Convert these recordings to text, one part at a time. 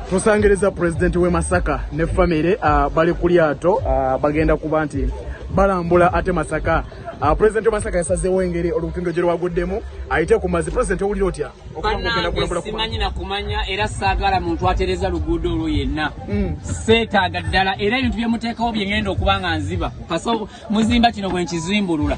tusangiriza pulezidenti w'e masaka ne famire ah, bali ku lyato ah, bagenda kuba nti balambula ate masaka ah, pulezidenti w'emasaka yasazeewo engeri olutindo gye lwaguddemu ayite ku mazi pulezidenti owulira otya banange simanyi nakumanya era saagala muntu atereza luguudo olwo yenna hmm. seetaaga ddala era ebintu bye muteekawo bye ngenda okuba nga nziba muzimba kino bwe nkizimbulula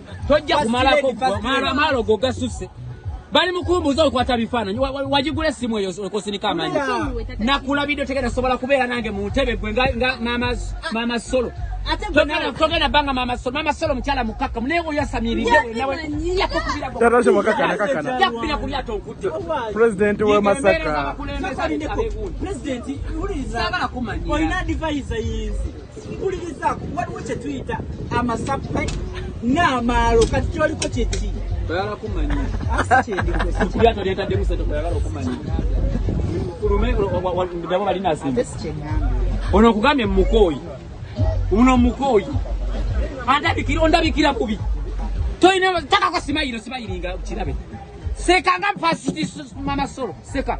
tojja kumalako maalo go gasusse bali mukumbuza okwata bifaananyi wagigula essimu eyo okosinika amanyi nakulabidde tegenda sobola kubeera nange mu ntebe gwe nga maama solo togenda banga maama solo maama solo mukyala mukakkamu naye oyasamiriddeyakkubira ku lyato nkutte pulezidenti we masaka mpulirizaako waliwo kye tuyita amasappe n'amaalo kati kyoliko kyeki oyala kumanya kulyato lyetaddemu sente kweyagala okumanya kulumedabo balina simba ono okugambye mumukooyi uno mukooyi andabikira ondabikira bubi toyina takako simayiro simayiringa kirabe seka nga mpasiti mama solo seka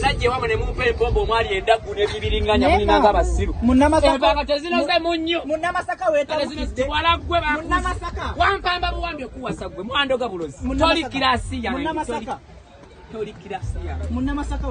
najja ewamwe ne mumpa empombo omwali endaggu n'ebibiringanya mulinanga abasiru empanga tezinoze mu nnyo munnamasaka wetabukiddekiwala gwe bamunnamasaka wampamba buwambi okuwasa gwe mwandoga bulozi toli kirasi yange toli kirasi yange munnamasaka